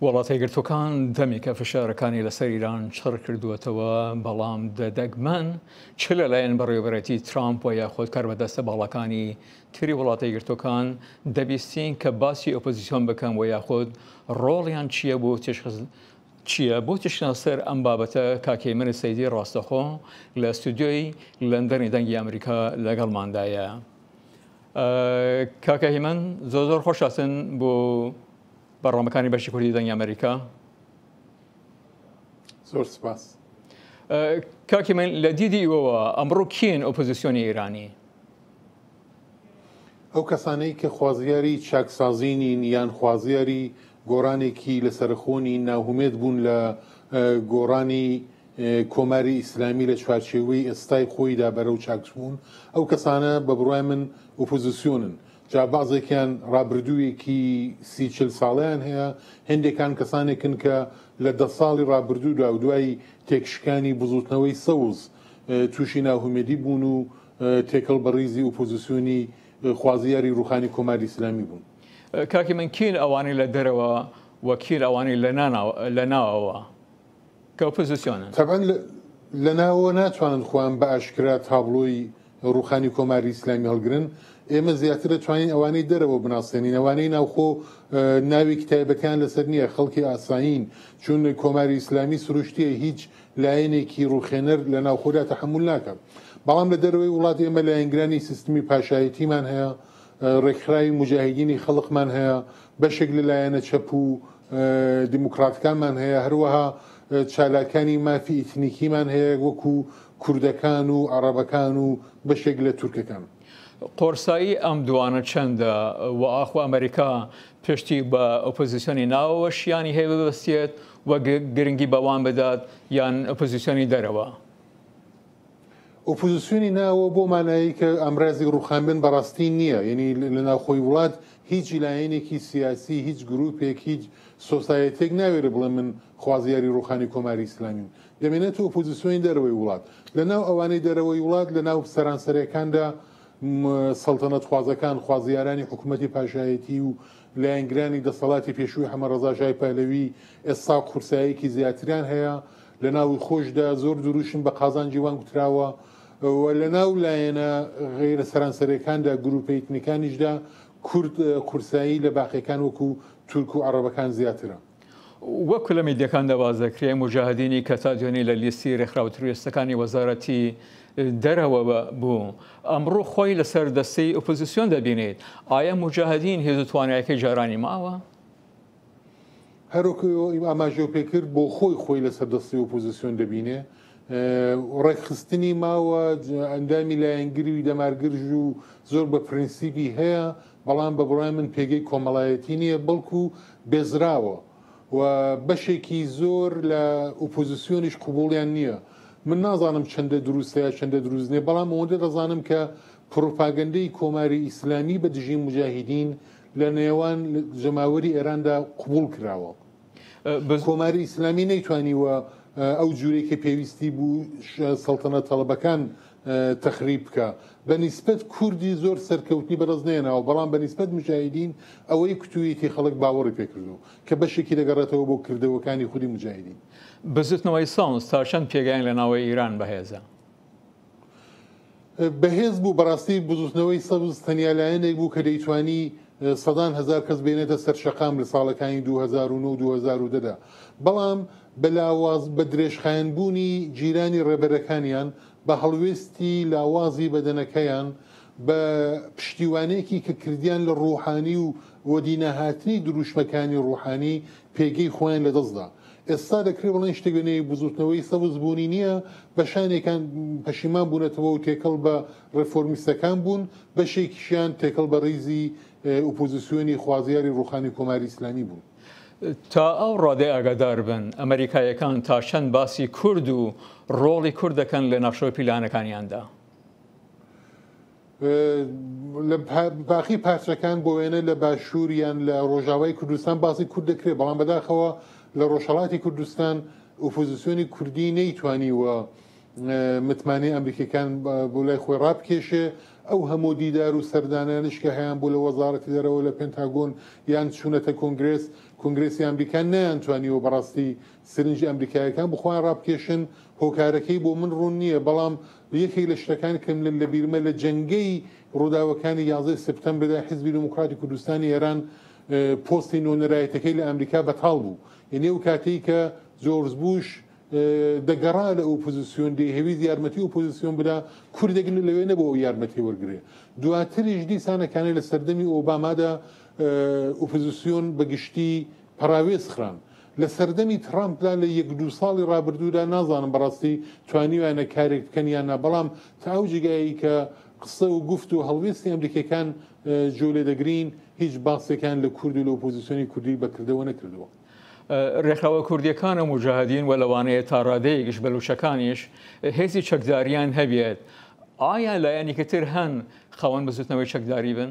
وڵاتە یەکگرتووەکان دەمێکە فشارەکانی لەسەر ئیران چڕ کردووەتەوە، بەڵام دەگمەن چ لەلایەن بەڕێوەبەرێتی ترامپ و یاخود کاربەدەستە باڵاکانی تری وڵاتە یەکگرتووەکان دەبیستین کە باسی ئۆپۆزیسیۆن بکەن و یاخود ڕۆڵیان چییە بۆ چییە بۆ تشتنا سەر ئەم بابەتە کاکەیمەری سەیدی ڕاستەخۆ لە ستودیۆی لەندەنی دەنگی ئەمریکا لەگەڵماندایە کاکە هیمن زۆر زۆر خۆشاتن بۆ بەرنامەکانی بەشی کوردی دەنگی ئەمریکا. زۆر سپاس کاکی من لە دیدی ئیوەوە ئەمڕۆ کین ئۆپۆزیسیۆنی ئێرانی ئەو کەسانەی کە خوازیاری چاکسازینین یان خوازیاری گۆڕانێکی لەسەرخۆنی ناهومێت بوون لە گۆڕانی کۆماری ئیسلامی لە چوارچێوەی ئێستای خۆیدا بەرەو چاکسبوون ئەو کەسانە بە بڕای من ئۆپۆزیسیۆنن جا بەعزێکیان ڕابردوویەکی سی چل ساڵەیان هەیە، هێندێکان کەسانێکن کە لە دە ساڵی ڕابردوودا و دوای تێکشکانی بزووتنەوەی سەوز تووشی ناهومێدی بوون و تێکەڵ بە ڕیزی ئوپۆزیسیۆنی خوازیاری ڕووخانی کۆماری ئیسلامی بوون. کاکی من کێن ئەوانەی لە دەرەوە و کێن ئەوانەی لە ناوەوە؟ کە ئۆپۆزیسیۆنن. تەبعەن لە ناوەوە ناتوانن خۆیان بە ئاشکرا تابڵۆی ڕووخانی کۆماری ئیسلامی هەڵگرن، ئێمە زیاتر دەتوانین ئەوانەی دەرەوە بناسێنین، ئەوانەی ناوخۆ ناوێکی تایبەتیان لەسەر نییە، خەڵکی ئاسایین، چون کۆماری ئیسلامی سروشتییە هیچ لایەنێکی ڕووخێنەر لە ناوخۆدا تەحەمول ناکات، بەڵام لە دەرەوەی وڵات ئێمە لایەنگرانی سیستمی پاشایەتیمان هەیە، ڕێکخراوی موجاهیدینی خەڵقمان هەیە، بەشێک لە لایەنە چەپ و دیموکراتەکانمان هەیە، هەروەها چالاکانی مافی ئیتنیکیمان هەیە وەکو کوردەکان و عەڕەبەکان و بەشێک لە تورکەکان. قۆرسایی ئەم دووانە چەندە و ئاخۆ ئەمەریکا پشتی بە ئۆپۆزیسیۆنی ناوەوە شیانی هەیە ببەستێت و گرنگی بەوان بدات یان ئۆپۆزیسیۆنی دەرەوە؟ ئۆپۆزسیۆنی ناوەوە بەو مانایەی کە ئامرازی ڕووخانبن بە ڕاستی نییە، یەنی لە ناوخۆی وڵات هیچ لایەنێکی سیاسی، هیچ گرووپێک، هیچ سۆسایەتییەک ناوێرێ بڵێ من خوازیاری ڕووخانی کۆماری ئیسلامیم. دەمێنێتە ئۆپۆزسیۆنی دەرەوەی وڵات. لە ناو ئەوانەی دەرەوەی وڵات لە ناو سەرانسەرەکاندا سەڵتەنەتخوازەکان، خوازیارانی حکوومەتی پاشایەتی و لایەنگرانی دەسەڵاتی پێشووی حەمە ڕەزا شای پەهلەوی ئێستا قورساییەکی زیاتریان هەیە لە ناوی خۆیشدا زۆر دروشم بە قازانجی وان گوتراوە و لە ناو لایەنە غەیرە سەرانسەریەکاندا، گروپە ئیتنیکانیشدا کورد قورسایی لە باقیەکان وەکو تورک و عەڕەبەکان زیاترە. وەکو لە میدیەکاندا باس دەکرێ موجاهدینی کە تا دوێنی لە لیستی رێکخراوە ترۆریستەکانی وەزارەتی دەرەوە بوو ئەمڕۆ خۆی لە سەر دەستەی ئۆپۆزسیۆن دەبینێت، ئایا موجاهدین هێزو توانایەکەی جارانی ماوە؟ هەروەکو ئاماژەو پێکرد بۆ خۆی خۆی لەسەر دەستی ئۆپۆزسیۆن دەبینێ و ڕێکخستنی ماوە ئەندامی لایەنگری و دەمارگرژ و زۆر بە پرینسیپی هەیە بەڵام بە بڕای من پێگەی کۆمەڵایەتی نییە بەڵکو بێزراوە و بەشێکی زۆر لە ئۆپۆزسیۆنیش قوبوڵیان نییە من نازانم چەندە دروستە یا چەندە دروست نیە بەڵام ئەوەندە دەزانم کە پروپاگەندەی کۆماری ئیسلامی بە دژی مجاهیدین لە نێوان جەماوەری ئێراندا قبوڵ کراوە. کۆماری ئیسلامی نەیتوانیوە ئەو جوورەی کە پێویستی بوو سەڵتەنە تەڵەبەکان تەخریب بکا. بە نیسبەت کوردی زۆر سەرکەوتنی بەدەست نەهێناوە، بەڵام بە نیسبەت موجاهیدین ئەوەی کوتوویەتی خەڵک باوەڕی پێ کردووە، کە بەشێکی دەگەڕێتەوە بۆ کردەوەکانی خودی موجاهیدین. بزووتنەوەی سەوز تا چەند پێگەیان لە ناوەی ئیران بەهێزە؟ بەهێز بوو، بەڕاستی بزوتنەوەی سەبز تەنیا لایەنێک بوو کە دەیتوانی سەدان هەزار کەس بێنێتە سەر شەقام لە ساڵەکانی دوو هەزار و نۆ و دوو هەزار و دە دا، بەڵام بە لاواز بە درێژخایەن بوونی جیرانی ڕێبەرەکانیان بە هەڵوێستی لاوازی بەدەنەکەیان بە پشتیوانێکی کە کردیان لە ڕوحانی و وەدینەهاتنی دروشمەکانی ڕوحانی پێگەی خۆیان لەدەستدا. ئێستا دەکرێت بڵێن شتێک لە نێوی بزووتنەوەی سەوز بوونی نییە، بەشانێکان پەشیمان بوونەتەوە و تێکەڵ بە رێفۆرمیستەکان بوون، بەشێکیشیان تێکەڵ بە ریزی ئۆپۆزیسیۆنی خوازیاری رووخانی کۆماری ئیسلامی بوون. تا ئەو رادەی ئاگاداربن ئەمەریکاییەکان تا چەند باسی کورد و رۆڵی کورد دەکەن لە ناخشەو پیلانەکانیاندا. لە باقی پارچەکان بۆ وێنە لە باشوور یان لە ڕۆژاوای کوردستان باسی کورد دەکرێت بەڵام بەداخەوە لە ڕۆژهڵاتی کوردستان ئۆپۆزیسیۆنی کوردی نەیتوانیوە متمانەی ئەمریکیەکان بۆ لای خۆی ڕابکێشێ ئەو هەموو دیدار و سەردانانش کە هەیان بۆ لە وەزارەتی دەرەوە لە پێنتاگۆن یان چوونەتە کۆنگرس کۆنگرسی ئەمریکان نیان توانیوە بەڕاستی سرنج ئەمریکاییەکان بۆ خۆیان ڕابکێشن، هۆکارەکەی بۆ من ڕوون نییە، بەڵام یەکێک لە شتەکان کە من لە بیرمە لە جەنگەی ڕووداوەکانی یازدە ی سێپتەمبردا حیزبی دێموکڕاتی کوردستانی ئێران پۆستی نۆنەرایەتەکەی لە ئەمریکا بەتاڵ بوو یەنی ئەو کاتەی کە جۆرج بوش دەگەڕا لە ئۆپۆزیسیۆن دەیهەویست یارمەتی ئۆپۆزیسیۆن بدا کوردێک لەوێ نەبوو ئەو یارمەتی وەرگرێ دواتریش دیسانەکانەی لە سەردەمی ئۆبامادا ئۆپۆزیسیۆن بە گشتی پەڕاوێز خران لە سەردەمی تڕامپدا لە یەک دوو ساڵی ڕابردوودا نازانم بەڕاستی توانیویانە کارێک بکەن یان نا بەڵام تا ئەو جێگایەی کە قسە و گفت و هەڵوێستی ئەمریکیەکان جۆ لێ دەگرین هیچ باسێکیان لە کورد و لە ئۆپۆزیسیۆنی کوردی بەکردەوە نەکردووە. ڕێکخراوە کوردیەکان و موجاهدین و لەوانەیە تا ڕادەیەکیش بەلوچەکانیش هێزی چەکداریان هەبێت ئایا لایەنێکی تر هەن خاوەن بزوتنەوەی چەکداری بن؟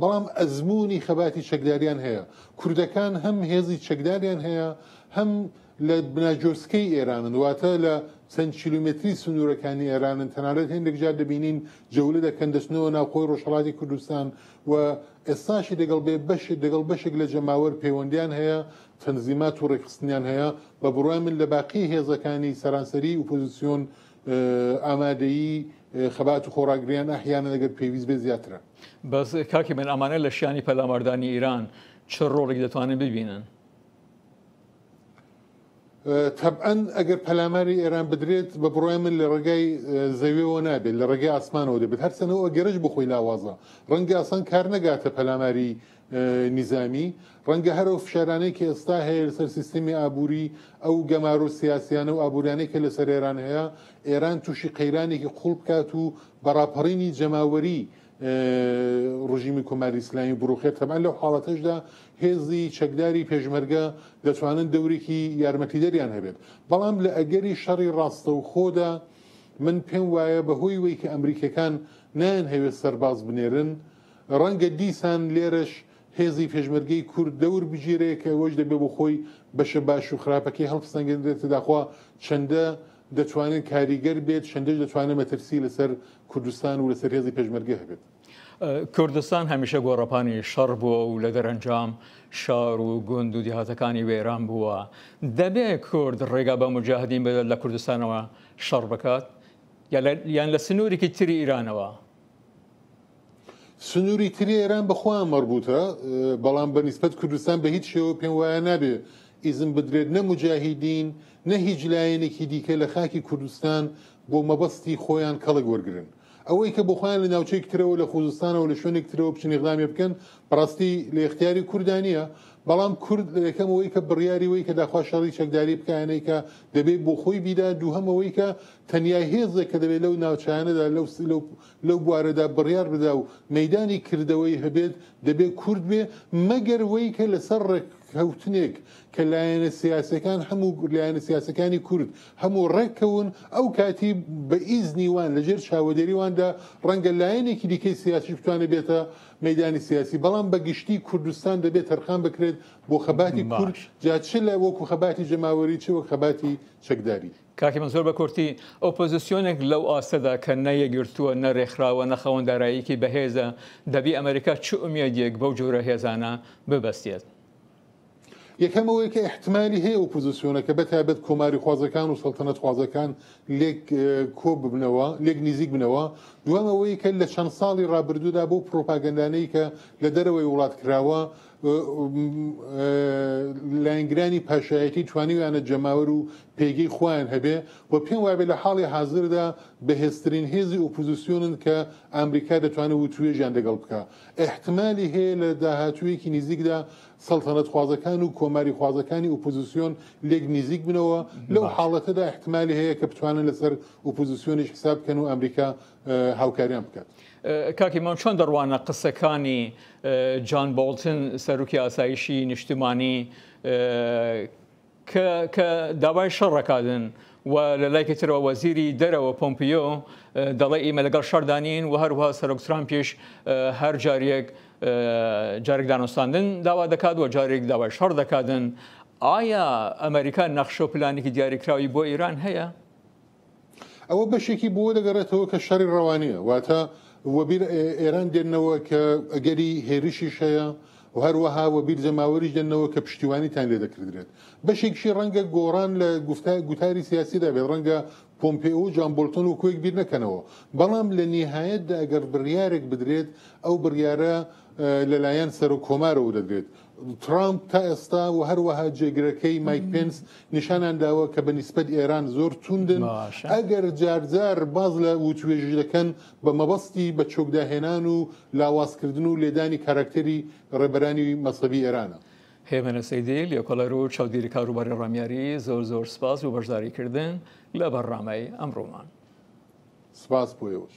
بەڵام ئەزموونی خەباتی چەکداریان هەیە. کوردەکان هەم هێزی چەکداریان هەیە، هەم لە بناجۆسکەی ئێرانن، واتە لە چەند کیلۆمێتری سنوورەکانی ئێرانن، تەنانەت هێندێک جار دەبینین جەولە دەکەن، دەچنەوە ناو خۆی ڕۆژهەڵاتی کوردستان و ئێستاشی دەگەڵ بێ بەش دەگەڵ بەشێک لە جەماوەر پەیوەندیان هەیە، تەنزیمات و ڕێکخستنیان هەیە، بە بڕوای من لە باقی هێزەکانی سەرانسەریی ئوپۆزیسیۆن ئامادەیی خەبات و خۆڕاگریان ئەحیانەن ئەگەر پێویست بێت زیاترە. بەس کاکی من ئەمانە لە شانی پەلاماردانی ئیران چ ڕۆڵێک دەتوانن ببینن؟ تەبەن ئەگەر پەلاماری ئێران بدرێت بە بڕای من لە ڕێگای زەویەوە نابێت لە ڕێگەی ئاسمانەوە دەبێت هەرچەنەوە گەرش بخۆی لاوازە ڕەنگە ئاسان کار نەگاتە پەلاماری نیزامی، ڕەنگە هەر ئەو فشارانەی کە ئێستا هەیە لەسەر سیستمی ئابووری، ئەو گەمارۆ سیاسییانە و ئابوورییانەی کە لەسەر ئێران هەیە، ئێران تووشی قەیرانێکی قووڵ بکات و بە ڕاپەڕینی جەماوەری ڕژیمی کۆماری ئیسلامی بڕوخێت، تەبعەن لەو حاڵەتەشدا هێزی چەکداری پێشمەرگە دەتوانن دەورێکی یارمەتیدەریان هەبێت، بەڵام لە ئەگەری شەڕی ڕاستەوخۆدا من پێم وایە بەهۆی وەی کە ئەمریکییەکان نایانهەوێت سەرباز بنێرن، ڕەنگە دیسان لێرەش هێزی پێشمەرگەی کورد دەور بگیرێ کە ئەوەش دەبێ بۆ خۆی بەشە باش و خراپەکەی هەڵپسەنگێندرێتە داخوا چەندە دەتوانێت کاریگەر بێت، چەندەش دەتوانێت مەترسی لەسەر کوردستان و لەسەر هێزی پێشمەرگە هەبێت. کوردستان هەمیشە گۆڕەپانی شەڕ بووە و لە دەرەنجام شار و گوند و دیهاتەکانی وێران بووە. دەبێ کورد ڕێگا بە موجاهدین بدات لە کوردستانەوە شەڕ بکات؟ یان لە سنوورێکی تری ئیرانەوە؟ سنوری تری ئێران بە خۆیان مەربوتە بەڵام بە نیسبەت کوردستان بە هیچ شێوە پێم وایە نابێ ئیزن بدرێت نە مجاهیدین نە هیچ لایەنێکی دیکە لە خاکی کوردستان بۆ مەبەستی خۆیان کەڵک وەرگرن ئەوەی کە بۆ خۆیان لە ناوچەیەک ترەوە لە خوزستانەوە لە شوێنێک ترەوە بچن اقدامی بکەن بەڕاستی لە اختیاری کوردانیە بەڵام کورد لە یەکەم ئەوەی کە بڕیاری وەی کە داخوا شەڕی چەکداری بکایەنەی کە دەبێت بۆ خۆی بیدا دووهەم ئەوەی کە تەنیا هێزێک کە دەبێت لەو ناوچانەدا لەو لەو لەو بوارەدا بڕیار بدا و مەدانی کردەوەی هەبێت دەبێت کورد بێ مەگەر وەی کە لەسەر ڕێک کەوتنێک کە لایەنە سیاسەکان هەموو لایەنە سیاسەکانی کورد هەموو ڕێککەون ئەو کاتی بە ئیزنی وان لەژێر چاوەدەریواندا ڕەنگە لایەنێکی دیکەی سیاسی بتوانێت بێتە مەدانی سیاسی بەڵام بە گشتی کوردستان دەبێت تەرخان بکرێت بۆ خەباتی کورد جا چ لە وەکو خەباتی جەماوەری چ وەک خەباتی چەکداری کاکی من زۆر بە کورتی، ئۆپۆزیسیۆنێک لەو ئاستەدا کە نە یەکگرتووە، نە رێکخراوە، نە خاوەن داراییەکی بەهێزە، دەبی ئەمریکا چ ئومێدێک بەو جۆرە هێزانە ببەستێت؟ یەکەم ئەوەی کە ئیحتمالی هەیە ئۆپۆزیسیۆنەکە بە تایبەت کۆماریخوازەکان و سەڵتەنەتخوازەکان لێک کۆ ببنەوە، لێک نیزیک بنەوە. دووەم ئەوەی کە لە چەند ساڵی رابردوودا بەو پرۆپاگەندانەی کە لە دەرەوەی وڵات کراوە، لایەنگرانی پاشایەتی توانیویانە جەماوەر و پێگەی خۆیان هەبێ و پێم وابێ لە حاڵی حازردا بەهێزترین هێزی ئۆپۆزیسیۆنن کە ئامریکا دەتوانێ وتووێژیان دەگەڵ بکا. ئیحتمالی هەیە لە داهاتوویەکی نیزیکدا سەڵتەنەتخوازەکان و کۆماریخوازەکانی ئۆپۆزیسیۆن لێک نیزیک بنەوە، لەو حاڵەتەدا ئیحتمالی هەیە کە بتوانن لەسەر ئۆپۆزیسیۆنیش حساب بکەن و ئامریکا هاوکاریان بکات. کاک ئیمام چۆن دەڕوانە قسەکانی جان بۆڵتن سەرۆکی ئاسایشی نیشتمانی کە داوای شەڕەکادن و لە لایکی ترەوە وەزیری دەرەوە پۆمپیۆ دەڵێ ئیمە لەگەڵ شەردانین و هەروها سەرۆک ترامپیش هەر جاریەک جارێک دانوستاندن داوا دەکات و جارێک داوای شەڕ دەکاتن ئایا ئەمریکا نەخشە و پلانێکی دیاریکراوی بۆ ئێران هەیە؟ ئەوە بەشێکی بۆوە دەگەڕێتەوە کە شەڕی ڕەوانییە واتە وەبیر ئێران دێننەوە کە ئەگەری هێرشیش هەیە و هەروەها وەبیر جەماوەریش دێننەوە کە پشتیوانیتان لێ دەکردرێت بەشێکشی ڕەنگە گۆڕان لە گفتار گوتاری سیاسیدا بێت ڕەنگە پۆمپێ و جوان بۆلتۆن و کوێک بیر نەکەنەوە بەڵام لە نیهایەتدا ئەگەر بڕیارێک بدرێت ئەو بڕیارە لەلایەن سەرۆک کۆمارەوە دەدرێت ترامپ تا ئێستا و هەروەها جێگرەکەی مایک پێنس نیشانان داوە کە بە نیسبەت ئێران زۆر توندن باشە. ئەگەر جارجار باز لە وتوێژی دەکەن بە مەبەستی بە چۆکداهێنان و لاوازکردن و لێدانی کاراکتەری ڕێبەرانی مەزهەبی ئێرانە. هێمن سەیدی، لێکۆڵەر و چاودێری کاروباری ڕامیاری، زۆر زۆر سپاس بۆ بەشداریکردن لە بەرنامەی ئەمڕۆمان. سپاس بۆ ئێوەش.